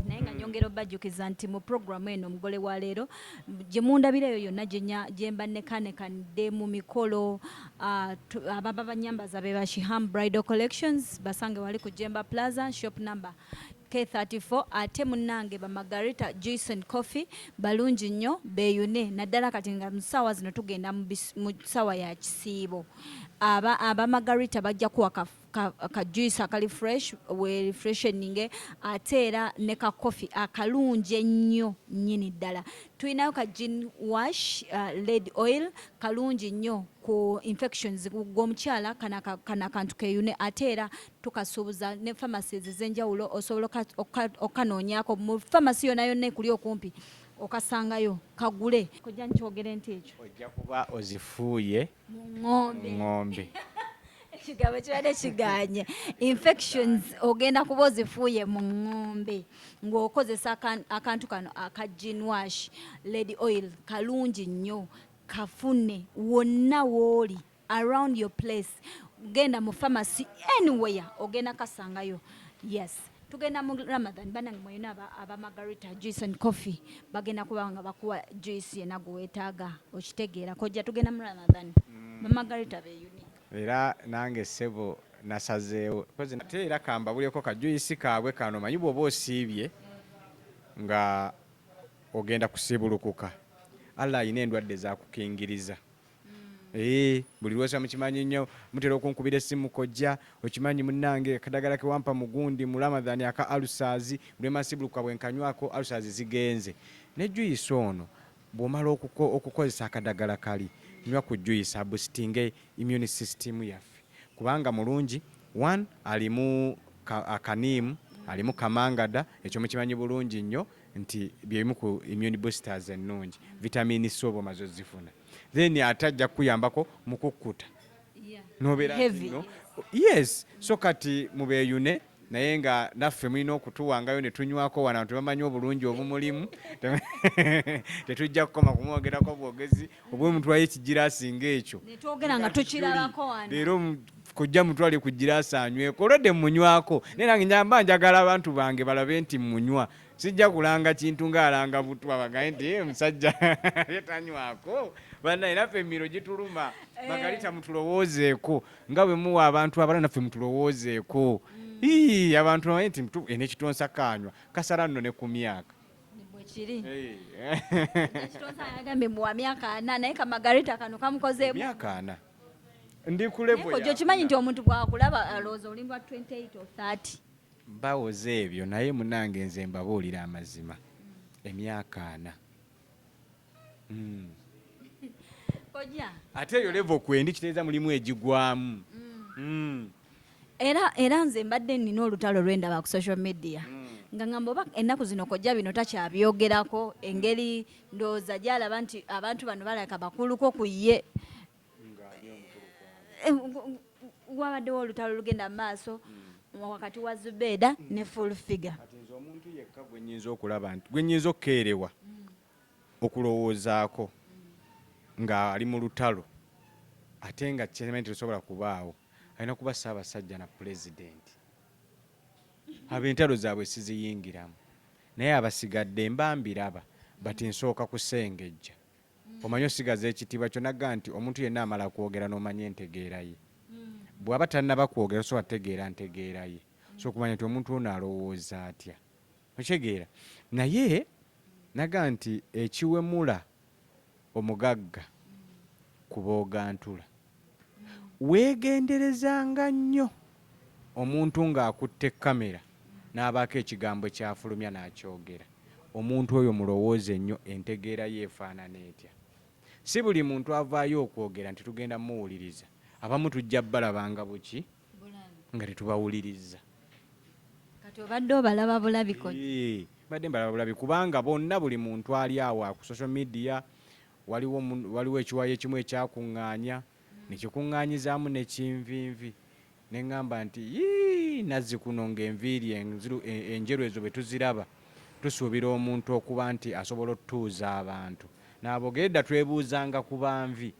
naye nga nyongera obajjukiza nti mu programu eno omugole wa leero gye mundabira eyo yonna gye mba nekanekanidde mu mikolo ah, ababa banyambaza be bashiham bridal collections basange wali ku jemba plaza shop number K34 ate munnange ba Margarita Jason Coffee balungi nnyo beeyune naddala kati nga mu ssaawa zino tugenda mu ssaawa ya kisiibo aba, aba Margarita bajja kuwaka ka, ka juice akali fresh we refresheninge ate era ne ka coffee akalungi ennyo nnyini ddala tulinayo ka gin wash uh, led oil kalungi nnyo ku infections gwomukyala kana, kana kantu keyune ate era tukasuubuza ne pharmacies ezenjawulo osobola okukanoonyako mu pharmacy yona yonna ekuli okumpi okasangayo kagule kojja nkyogere nti ekyo ojja kuba ozifuuye ng'ombe ekigabo kibadde kiganye infections ogenda kuba ozifuuye mu ŋŋombe ng'okozesa akantu kano aka ginwash lady oil kalungi nnyo kafune wonna wooli around your place genda mu pharmacy anywhere ogenda kasangayo yes tugenda mu Ramadan banange mweyina aba, aba Margarita juice and coffee bagenda kuba nga bakuwa juice yena gwewetaaga okitegeera kojja tugenda mu Ramadan mm. ba Margarita be unique era nange sebo nasazeewo kozi nate era kambabuleko ka juice kaabwe kano manyi bwoba osiibye nga ogenda kusibulukuka Allah alina endwadde zakukingiriza Ee, buli lwosa mukimanyi nnyo mutera okunkubira essimu kojja okimanyi munnange akadagala ke wampa mu gundi mu Ramadhan aka alusaazi bulema sibulukuka bwe nkanywako alusaazi zigenze ne juyisi ono bw'omala okuko okukozesa akadagala kali nywa ku juyisi abusitinge immune system yaffe kubanga mulungi one alimu ka akaniimu alimu kamangada ekyo mukimanyi bulungi nnyo nti byebimu ku immune boosters ennungi vitamini C oba omaze ozifuna then ate ajja kukuyambako mu kukkuta nobeera no yes so kati mubeeyune naye nga naffe mulina okutuwangayo ne tunywako wano abantu bamanyi obulungi obumulimu tetujja kukoma kumwogerako bwogezi oba omutwayo ekigiraasi ngaekyo leero kojja mutwale ku giraasi anyweko olwedde munywako naye nange nyamba njagala abantu bange balabe nti munywa sijja kulanga kintu ng'alanga butwa bagaye nti eh, musajja yetanywako banaye naffe emiro gituluma eh. bagalita mutulowoozeeko nga bwe muwa abantu abala naffe mutulowoozeeko mm. abantu naye nti eno ekitonsa kanywa kasala nno ne ku myaka bwekiri ekitonsa yagambye mbu wa myaka ana naye ka margarita kano kamukozeemu myaka ana ndi ku level yako okimanyi nti omuntu bwakulaba alowooza oli lwa 28 or 30 mbawoza ebyo naye munange nze mbabuulira amazima emyaka ana mm. ate eyo levo kwendi kiteeza mulimu egigwamu mm. mm. era era nze mbadde nina olutalo lwendaba ku social media mm. nga ngamba oba ennaku zino kojja bino takyabyogerako engeri ndowooza gyalaba nti abantu bano balaka bakuluko ku ye eh, wabaddewo olutalo lugenda mu maaso mm. wakati wa zubeeda ne full figure omuntu yekka gwenyinza okulaba nti gwenyinza okukeerewa okulowoozaako nga ali mu lutalo ate nga kyemanyi terusobola kubaawo alina kuba Ssaabasajja na Pulezidenti. Abo entalo zaabwe siziyingiramu naye abasigadde mba mbiraba bati nsooka kusengejja omanyi osigaza ekitiibwa kyo nagga nti omuntu yenna amala kwogera n'omanya entegeera ye hmm. bw'aba tannaba kwogera osobola tegeera ntegeera ye so okumanya nti omuntu ono alowooza atya. okitegeera naye naga nti ekiwemula omugagga ku boogantula weegenderezanga nnyo omuntu ng'akutte kkamera n'abaako ekigambo ky'afulumya n'akyogera omuntu oyo mulowooze nnyo entegeera ye efaanana etya si buli muntu avaayo okwogera nti tugenda muwuliriza abamu tujja balabanga buki nga tetubawulirizza kati obadde obalaba bulabiko badde mbalaba bulabi kubanga bonna buli muntu ali awo ku social media waliwo waliwo ekiwayo ekimu ekyakuŋŋaanya nekikuŋŋaanyizaamu nekinvinvi ne ŋŋamba nti yii nazzi kuno ng'enviiri enjeru ezo bwe tuziraba tusuubira omuntu okuba nti asobola otutuuza abantu n'abogere dda twebuuzanga ku banvi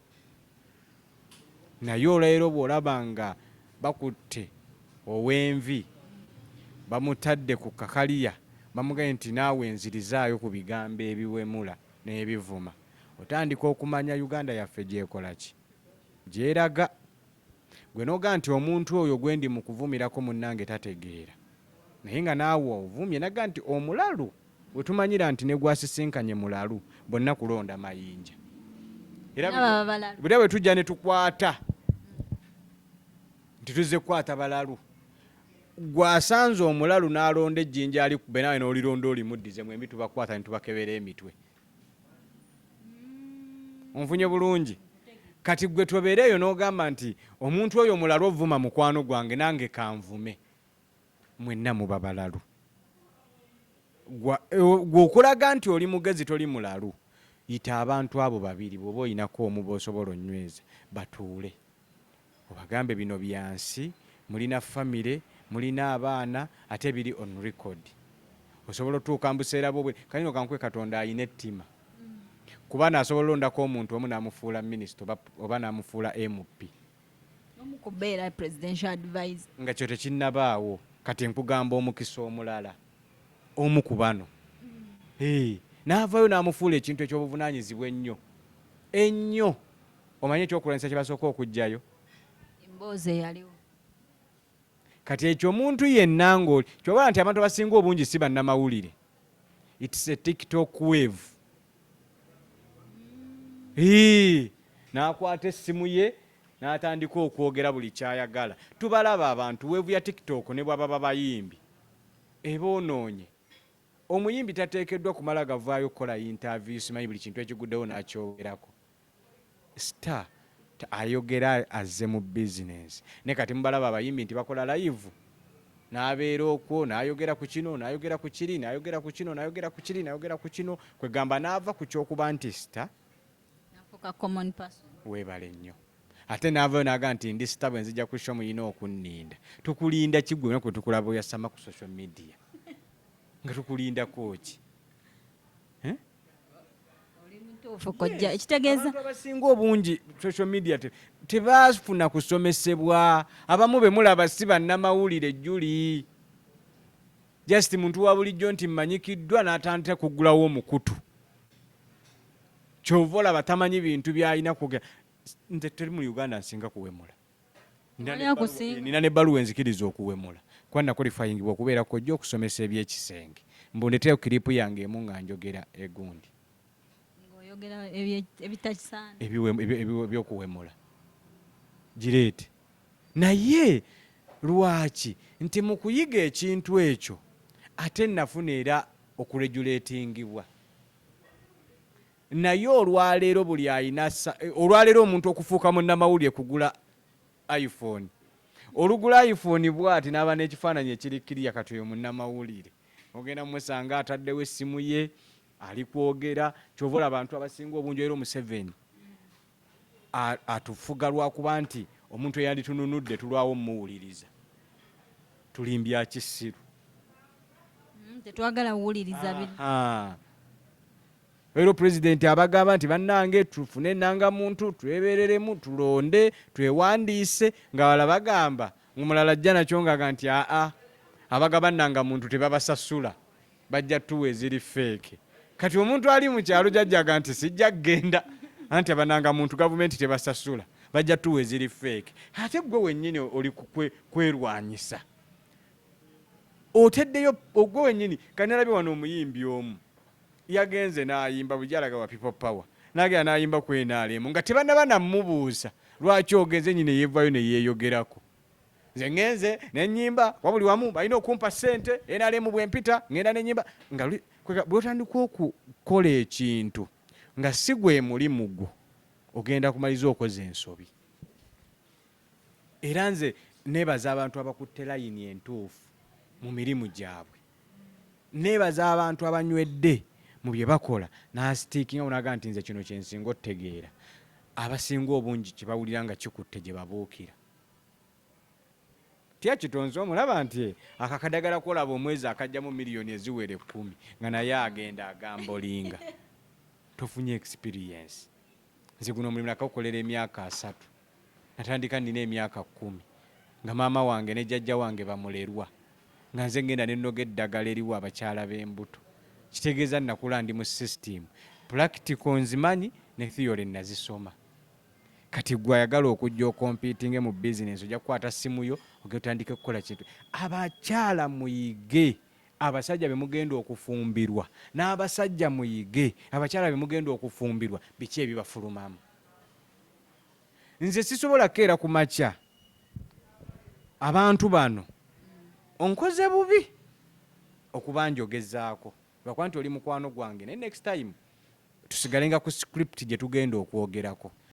Naye olwaleero bw'olaba nga bakutte ow'envi bamutadde ku kakaliya bamugambye nti naawe nzirizaayo ku bigambo ebiwemula n'ebivuma otandika okumanya Uganda yaffe gy'ekola ki gy'eraga. Gwe noga nti omuntu oyo gwendi mukuvumirako munange tategeera naye nga naawe ovumye naga nti omulalu wetumanyira nti negwasisinkanye mulalu bonna kulonda mayinja era bwetujja netukwata nti tuzze kukwata balalu gwasanze omulalu nalonda ejjinja alikube nawe nolironda olimuddize mwembi tubakwata netubakebera emitwe onfunye bulungi kati gwe tobeera eyo n'ogamba nti omuntu oyo mulalu ovuma mukwano gwange nange kanvume mwenna muba balalu e, gwe okulaga nti oli mugezi toli mulalu yita abantu abo babiri bwoba olinako omu bosobola onyweze batuule Obagambe bino byansi mulina family mulina abaana ate biri on record osobola otuuka mubuseera bwo bwe kale no kankuwe katonda ayina ettima kuba no asobola olondako omuntu omu namufuula minister oba namufuula MP nga kyo tekinabaawo kati nkugamba omukisa omulala omu kubano mm. naavayo namufuula ekintu ekyobuvunanyizibwa ennyo ennyo Omanyi ekyokulwanyisa kye basooka okuggyayo? Emboozi eyaliwo. Kati ekyo omuntu yenna ng'oli kyobala nti abantu abasinga obungi si bannamawulire. It's a TikTok wave. Hii, n'akwata essimu ye n'atandika okwogera buli kyayagala. Tubalaba abantu weevu ya TikTok ne bwaba babayimbi eboonoonye. Omuyimbi tateekeddwa kumala gavaayo kukola yintaaviyu simanyi buli kintu ekiguddewo n'akyogerako. Star ayogera azze mu business naye kati mubalaba abayimbi nti bakola live nabeera okwo nayogera ku kino nayogera ku kiri nayogera ku kino nayogera ku kiri nayogera ku kino kwegamba naava ku kyokuba nti sita webale nnyo ate naavayo naga nti ndi sita bwe nzija kusho muyina okunninda tukulinda kigwe naku tukulaba oyasama ku social media nga tukulindako ki eh? ekitegeeza abantu abasinga obungi social media tebafuna kusomesebwa abamu bemulaba si bannamawulire juli just muntu wa bulijjo nti mmanyikiddwa n'atandika kuggulawo omukutu kyova olaba tamanyi bintu byalina kugera nze teri mu uganda nsinga kuwemula nina ne baluwa enzikiriza okuwemula kuba nakolifayingibwa okubeera kojja okusomesa ebyekisenge mbu ndeteyo kiripu yange emu nga njogera egundi ebyokuwemula gireete naye lwaki nti mu kuyiga ekintu ekyo ate nafuna era okuregulatingibwa Naye olwaleero buli ayina olwaleero omuntu okufuuka munnamawulire kugula iPhone. Olugula iPhone bwati n'aba n'ekifaananyi ekiri kiriya kati oyo munnamawulire. Ogenda musanga ataddewo essimu ye ali kwogera kyova olaba abantu abasinga obungi era Omuseveni atufuga lwakuba nti omuntu eyanditununudde tulwawo omuwuliriza tulimbya kisiru mm, tetwagala kuwuliriza Leero pulezidenti abagamba nti bannange tufune ennanga muntu twebereremu tulonde twewandiise nga wala bagamba ngumulala ajja nakyo ngaga nti aa abagaba nnanga muntu tebabasasula bajja tuwa eziri feeke kati omuntu ali mu kyalo jajjaga nti sijja kugenda anti abananga muntu gavumenti tebasasula bajja tuwa eziri feeke ate gwe wennyini oli kwerwanyisa oteddeyo ogwe wennyini kanalabye wano omuyimbi omu Yagenze n'ayimba bulijjo alaga ba people power n'agenda n'ayimba ku nrm nga tebannaba na mmubuuza lwaki ogenze nnyini yeevaayo ne yeeyogerako. Nze ngenze ne nnyimba kuba buli wamu balina okumpa ssente nrm bwe mpita ngenda ne nnyimba nga bw'otandika okukola ekintu nga si gwe mulimu gwo ogenda kumaliza okoze ensobi era nze nebaza abantu abakutte layini entuufu mu mirimu gyabwe. nebaza abantu abanywedde mu bye bakola n'asitiikinga unaga nti nze kino kye nsinga otegeera abasinga obungi kye bawulira nga kikutte gye babuukira tya kitonzi omulaba nti eh, akakadagala kolaba omwezi akajjamu miliyoni eziwera ekkumi nga naye agenda agambolinga tofunye experience nze guno omulimu nakakukolera emyaka asatu Natandika nnina emyaka kkumi nga maama wange ne jjajja wange bamulerwa nga nze ngenda ne nnoga eddagala eriwa abakyala b'embuto. Kitegeeza nakula ndi mu sisitiimu, pulakitiko nzimanyi ne thiyole nazisoma. Kati gwe ayagala okujja okompiitinge mu bizinensi ojja kukwata ssimu yo ogenda otandike kukola kintu. Abakyala muyige abasajja be mugenda okufumbirwa n'abasajja muyige abakyala be mugenda okufumbirwa biki ebibafulumamu. nze sisobola keera ku makya abantu bano onkoze bubi okuba njogezaako lwakuba nti oli mukwano gwange naye next time tusigalenga ku script gye tugenda okwogerako